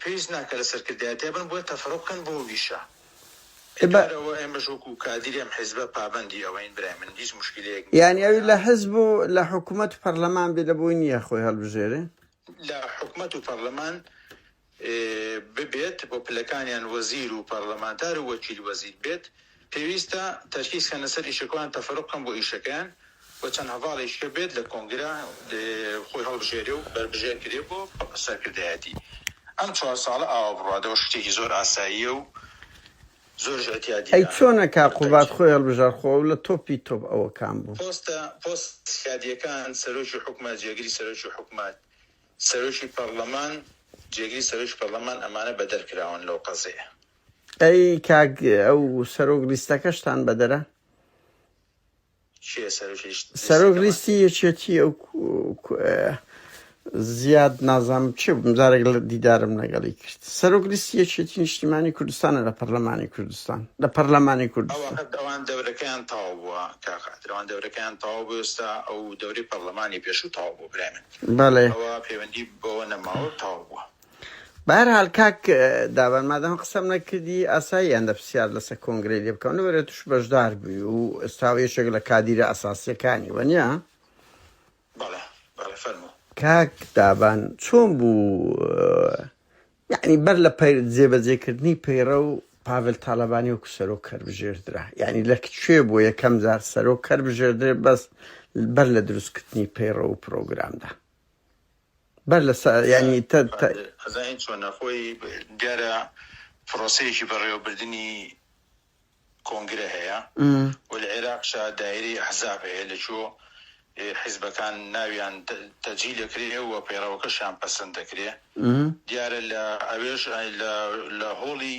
پێویست ناکا لە سەرکردایەتیا بن بۆیە تەفەرۆ بکەن بۆ ویشە کارەوە ئێمەش وەکو کادیری ئەم حیزبە پابەندی ئەوەین برای من هیچ موشکیلەیەک نیە یانی ئەوی لە حیزب و لە حکومەت و پەرلەمان بێ لە بۆی نیە خۆی هەڵبژێرێ لە حکومەت و پەرلەمان ببێت بۆ پلەکانیان وەزیر و پەرلەمانتار و وەکیل وەزیر بێت پێویستە تەرکیز کەنە سەر ئیشە کۆیان تەفەروق کەن بۆ ئیشەکەیان و چەند هەڤاڵێکی کە بێت لە کۆنگرە خۆی هەڵبژێرێ و بەربژێر کرێ بۆ سەرکردایەتی ئەم چوار ساڵە ئاوا بڕادەوە شتێکی زۆر ئاساییە و زۆرش ئەتیادیە ئەی چۆنە کاک قوباد خۆی هەڵبژار خۆ ئەو لە تۆپی تۆپ ئەوە کام بوو. پۆستە پۆست سیادیەکان سەرۆکی حوکمە جێگری سەرۆکی حوکمەت سەرۆکی پەڕلەمان جێگری سەرۆکی پەڕلەمان ئەمانە بەدەر کراون لەو قەزەیە. ئەی کاک ئەو سەرۆک لیستەکەشتان بەدەرە چیە سەرۆکی لیست- سەرۆک لیستەکەمان؟ لیستی یەکێتی ئەو کو- ئه، زیاد نازام چی بووم جارێک لە دیدارم لەگەڵی کرد سەرۆک لیستی یەکێتی نیشتیمانی کوردستانە لە پەرلەمانی کوردستان لە پەرلەمانی ئەو کوردستان وەخت ئەوان دەورەکەیان تەواو بووە کاقادر ئەوان دەورەکەیان تەواو بوو ئێستا ئەو دەوری پەرلەمانی پێشوو تەواو بوو برای من بەڵێ ئەوە پەیوەندی بەوە نەماوە تەواو بووە بەهەرحال کاک دابان مادام قسەم نەکردی ئاسایی ئەندە پرسیار لەسەر کۆنگرەی لێ بکەم لەبەرە توش بەشدار بووی و ئێستا یەکێک لە کادیرە ئەساسیەکانی وەنیا بەڵێ بەڵێ فەرموو کاک دابان چۆن بوو یعنی بەر لە پەیر جێبەجێکردنی پەیڕە و پاڤل تاالبانی وەکو سەرۆک کەر بژێردرا یعنی لە کوێ بۆ یەکەم جار سەرۆک کەر بژێردرێ بەس بەر لە دروستکردنی پەیڕە و پرۆگرامدا بەر لە سا یانی تە تە. ئەزانیت چۆنە خۆی دیارە پرۆسەیەکی بەڕێوەبردنی کۆنگرە هەیە و لە عێراقشا دایرەی ئەحزاب هەیە لە چۆ حیزبەکان ناویان تەجی دەکرێ و پەیڕەوەکەشیان پەسەند دەکرێ دیارە لە ئەوێش لە هۆڵی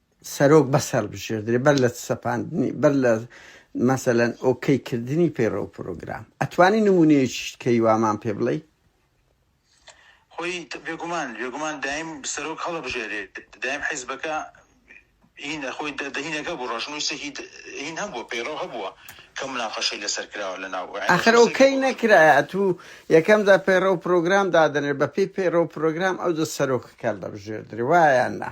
سەرۆک بەسەربژێردرێ بەر لە سەپاندنی بەر لە مەسەلەن ئۆکەی کردنی پەیڕە و پرۆگرام ئەتوانی نمونەیەکیشت کەی وامان پێ بڵێی خۆی بێگومان بێگومان دایم سەرۆک هەڵەبژێرێت دایم حیزبەکە هینە خۆی دەهینەکە بوو ڕژنووسێکی هین هەبووە پەیڕەو هەبووە کە مناقەشەی لەسەر کراوە لە ناو ئاخر ئۆکەی نەکرایە تو یەکەمدا پەیڕە و پرۆگرام دادنێ بە پێی پەیڕە و پرۆگرام ئەو دە سەرۆکەکە دەبژێردرێ وایە نا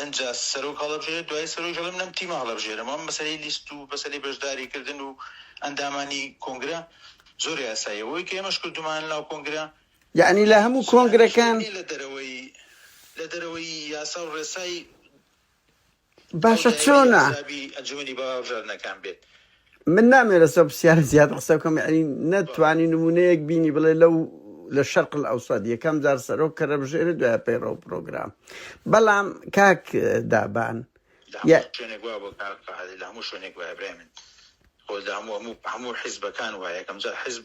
ئنجا سەرۆک هەڵەبژێرێت دوایی سەرۆک دەڵێ من ئەم تیمە هەڵەبژێرم ئەم مەسەلەی لیست و مەسەلەی بەشداری کردن و ئەندامانی کۆنگرە زۆر یاساییە وەوەی کە ئێمەش کردومانە لەناو کۆنگرە یەعنی لە هەموو کۆنگرەکان. لە دەرەوەی لە دەرەوەی یاسا و ڕێسای باشە چۆنە؟ ئەنجومەنی باوە هەڵبژاردنەکان بێت. من نامێ لەسەر پرسیارە زیاد قسە بکەم یعنی نەتوانی نمونەیەک بینی بڵێ لەو لە شەرق ئەوساد یەکەم جار سەرۆک کە رەبژێری دوای پەیڕە و پرۆگرام بەڵام کاک اه، دابان لە هەموو یا- شوێنێک وا بۆ کار قاعدە لە هەموو شوێنێک وایە برای من خۆ لە هەموو هەموو هەموو حیزبەکان وایە یەکەم جار حیزب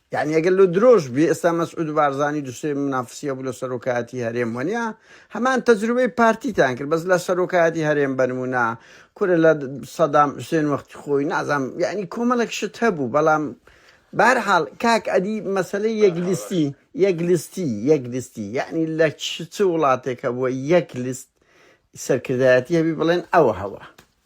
یانی ئەگەر لۆ درۆش بێ ئێستا مەسعود بارزانی دوسێ منافسیە بوو لە سەرۆکایەتی هەرێم وەنیا هەمان تەجروبەی پارتیتان کرد بەس لە سەرۆکایەتی هەرێم بەرمونە کورە لە سەدام حوسێن وەختی خۆی نازام یعنی کۆمەڵک شت هەبوو بەڵام بارحاڵ کاک ئەدی مەسلەی یەک لیستی یەک لیستی یەک لیستی یعنی لە چ چ وڵاتێکە بووە یەک لیست سەرکردایەتی هەبی بڵێن ئەوە هەوە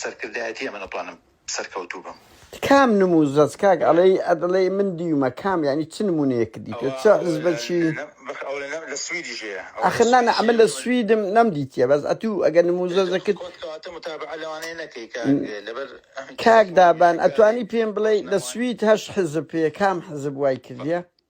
سەرکردایەتی ئەمە دەتوانم سەرکەوتوو بم. کام نمو زەچ کاک ئەڵێی ئەدڵێی من دیومە کام یانی چ نمونەیەکت دیتوە چ حزبەکی ئەخر نا نا ئەمە لە سویدم نەمدیتیە بەس ئەتوو ئەگەر نمو زەچەکت کاک دابان ئەتوانی پێم بڵێی لە سوید هەشت حزب پێ کام حزب وای کردیە؟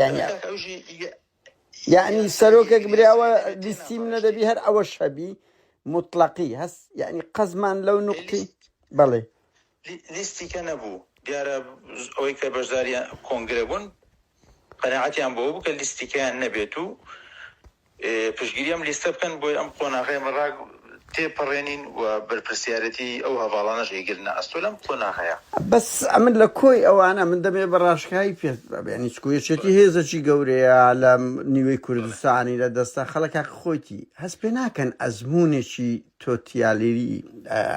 یانی یانی سەرۆکێک براوە لیستی منە دەبی هەر ئەوە شەبی مطلقی هەست یعنی قەزمان لەو نقطی بەڵێ لیستیکە نەبوو دیارە ئەوەی کە بەشداریان کۆنگرە بوون قەنەعەتیان بۆ بوو کە لیستیکەیان نەبێت و پشتگیری ئەم لیستە بکەن بۆی ئەم قۆناغەی ئەمە ڕا تێپەڕێنین و بەرپرسیارەتیی ئەو هەڤاڵانەش ئەیگرنە ئەستۆ لەم قۆناغەیە. بەس ئەمن لە کۆی ئەوانە من دەمێ بە ڕاشکایی پێت بەبێنی چکو یەکێتی هێزەکی گەورەیە لە نیوەی کوردستانی لە دەستە خەڵکە خۆیتی هەست پێ ناکەن ئەزمونێکی تۆتیالیری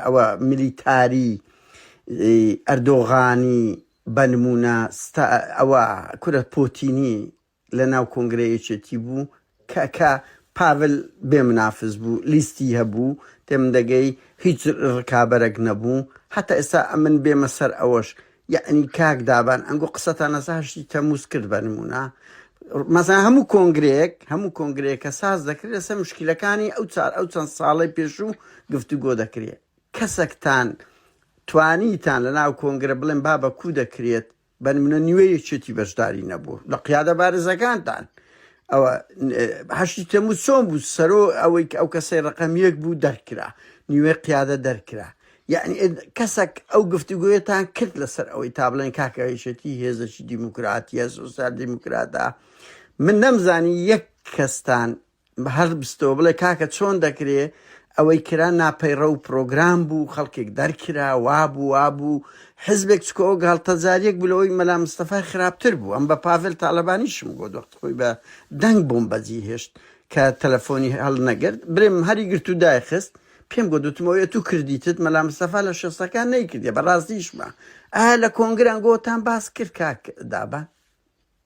ئەوە ملیتاری ئەردۆغانی بەنمونە ستا ئەوە کورە پۆتینی لە ناو کۆنگرەی یەکێتی بوو کە کە پاڤل بێ منافس بوو لیستی هەبوو تێم دەگەی هیچ ڕکابەرەک نەبوو هەتا ئێستا ئەمن بێمە سەر ئەوەش یعنی کاک دابان ئەنگۆ قسەتان لەسە هەشتی تەموز کرد بە نمونە مەزان هەموو کۆنگرەیەک هەموو کۆنگرەیە کە ساز دەکرێت لەسەر مشکلەکانی ئەو چار ئەو چەند ساڵی پێشوو گفتوگۆ دەکرێت کەسەکتان توانیتان لە ناو کۆنگرە بڵێن بابە کو دەکرێت بەن منە نیوە یەکێتی بەشداری نەبوو لە قیادە بارزەکانتان ئەوە هەشتی تەمو چۆن بوو سەرۆ ئەوەی ئەو کەسەی ڕقەم یەک بوو دەرکرا نیوێ قیادە دەرکرا یعنی کەسێک ئەو گفتوگوێتان کرد لەسەر ئەوەی تا بڵێن کاکەهیشێتی هێزەکی دیموکراتیە سوسیال دیموکراتە من نەمزانی یەک کەستان هەر بستەوە بڵێ کاکە چۆن دەکرێ ئەوەی کرا ناپەیڕە و پرۆگرام بوو خەڵکێک دەرکرا وابوو وابوو حزبێک چکۆ ئەو گاڵتەجاریەک بلەوەی مەلا مستەفای خراپتر بوو ئەم بە پاڤل تاالبانیشم گۆ دەخت خۆی بە دەنگ بووم بەجی هێشت کە تەلەفۆنی هەڵ نەگرت برێم هەری گرت و دایخست پێم گۆ دوتمەوەی تو کردیتت مەلا مستەفا لە شەستەکان نەیکردێ بەڕاستیشمە ئا لە کۆنگران گۆتان باس کرد کاک دابە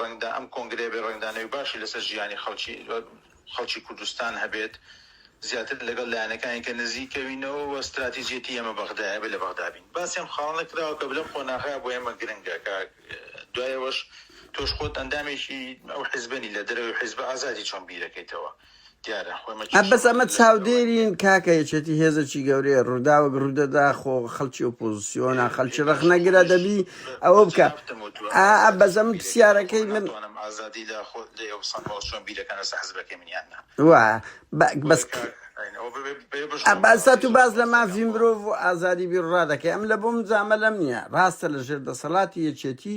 ڕەنگدان ئەم کۆنگرەیە بێت ڕەنگدان نەوی باشی لەسەر ژیانی خەڵکی خەڵکی کوردستان هەبێت زیاتر لەگەڵ لایەنەکانی کە نزیکەوینەوە وە ستراتیجێتی ئێمە بەغدایە ئەبێت لە بەغدا بین باسی ئەم خاڵانە کراوە کە لەم قۆناغە بۆ ئێمە گرنگە کە دوای ئەوەش تۆش خۆت ئەندامێکی ئەو حیزبە نی لە دەرەوەی حیزبە ئازادی چۆن بیرەکەیتەوە ئە بەس ئەمە چاودێرین کاکە یەکێتی هێزەکی گەورەیە ڕووداوەک ڕوودەدا خۆ خەڵکی ئۆپۆزیسیۆنا خەلکی ڕخنەگرە دەبی ئەوە بکە ئا بەزەم پرسیارەکەی من بەس ئەباسات و باز لە مافی مرۆڤ و ئازادی بیڕا دەکەی ئەم لە بۆم زامە لەم نییە ڕاستە لە ژێر دەسەڵاتی یەکێتی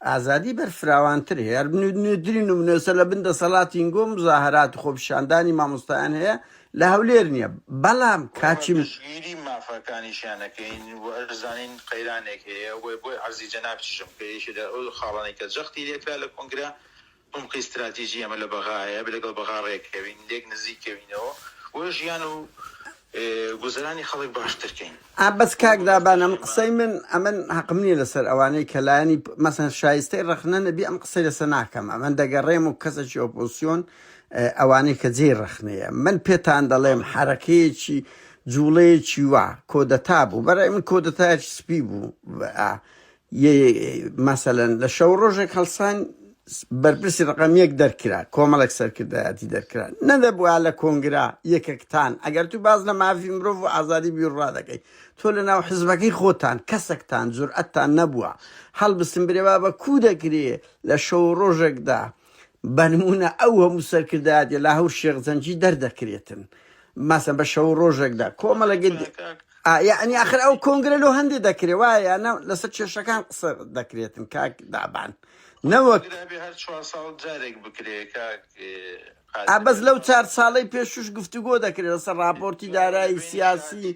ئازادی بەرفراوانتر هەیە، نوێترین نمونەسە لە بن دەسەڵاتی نگۆ مزاهرات و خۆپیشاندانی مامۆستایان هەیە لە هەولێر نییە، بەڵام کاچی. پشتگیری مافەکانیشیان ئەکەین و ئەشزانین قەیرانێک هەیە و بۆیە عەرزی جەنابتیشم کە یەکێ لە ئەو خاڵانەی کە جەختی لێکرا لە کۆنگرە، عومقی ستراتیجی ئێمە لە بەغایە، لەگەڵ بەغا ڕێککەوین، لێک نزیککەوینەوە و ژیان و گوزەرانی خەڵک باشتر کەین. ئا بەس کاک دابان ئەمە قسەی من ئەمن هەقم نیە لەسەر ئەوانەی کە لایەنی مەسەن شایستەی ڕەخنە نەبی ئەم قسەی لەسە ناکەم ئەمن دەگەڕێم و کەسەکی ئۆپۆسیۆن ئەوانەی کە جێی ڕەخنەیە من پێتان دەڵێم حەرەکەیەکی جوڵەیەکی وا کۆدەتا بوو بەڕای من کۆدەتایەکی سپی بوو ئا ی مەسەلەن لە شەو ڕۆژێک هەڵسان بەرپرسی ڕقەم یەک دەرکرا کۆمەڵێک سەرکردایەتی دەرکرا نەدەبووە لە کۆنگرا یەکەکتان ئەگەر تو باز لە مافی مرۆڤ و ئازادی بیرڕا دەکەی تۆ لە ناو حزبەکەی خۆتان کەسەکتان جورئەتتان نەبووە هەڵبستن برێوا بە کو دەکرێ لە شەو ڕۆژێکدا بەنموونە ئەو هەموو سەرکردایەتی لە هەور شێخ زەنگی دەردەکرێتن ماسە بە شەو ڕۆژێکدا کۆمەڵە گەل یعنی ئاخر ئەو کۆنگرە لۆ هەندێ دەکرێ وایە نە لەسەر کێشەکان قسە دەکرێتن کاک دابان نەوەک بەس لەو چار ساڵەی پێشوش گفتوگۆ دەکرێت لەسەر راپۆرتی دارایی سیاسی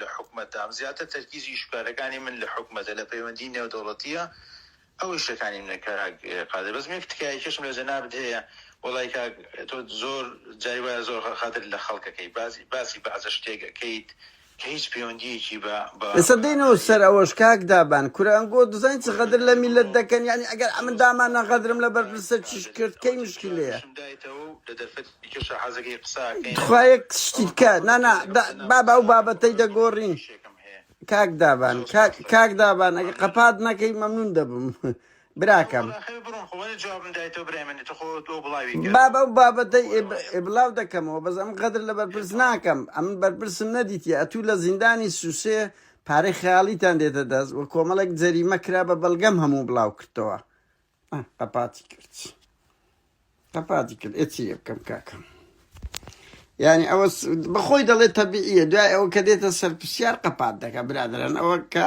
لە حکومەتدام، زیاتر تەرکیزی ئیش و کارەکانی من لە حکومەتە، لە پەیوەندی نێودەوڵەتییە، ئەو ئیشەکانی منە کاک قادر، بەس من یەک تکایەکێشم لە جەنابت هەیە، وەڵای کاک تۆ زۆر جاری وایە زۆر غەدر لە خەڵکەکەی، باسی بەعسە شتێک ئەکەیت کە هیچ پەیوەندییەکی بە. ئێستا دێینەوە سەر ئەوەش کاک دابان، کورە ئەنگۆ دەزانیت چ غەدر لە میللەت دەکەن، یەعنی ئەگەر ئەمن داماننا غەدرم لە بەرپرسە چیش کرد، کەی مشکیلەیە؟ تخوا یەک شتی بکە نا نا دا بابە ئەو بابەتەی دەگۆڕین کاک دابان کاک کاک دابان ئەگە قەپات نەکەی مەمنون دەبم براکەم بابە ئەو بابەتەی ئێب- ئێبلاو دەکەمەوە بەس ئەم قەدر لە بەرپرس ناکەم ئەم بەرپرسم نەدیتی ئەتوو لە زیندانی سوسێ پارەی خەیاڵیتان دێتە دەست و کۆمەڵێک جەریمە کرا بە بەڵگەم هەموو بڵاو کردەوە قەپاتی کرد قەپاتی کرد ئێ چی لێ بکەم کاکەم یعنی ئەوە بەخۆی دەڵێت تەبیعیە دوای ئەوە کە دێتە سەر پرسیار قەپات دەکە برادران ئەوە کاک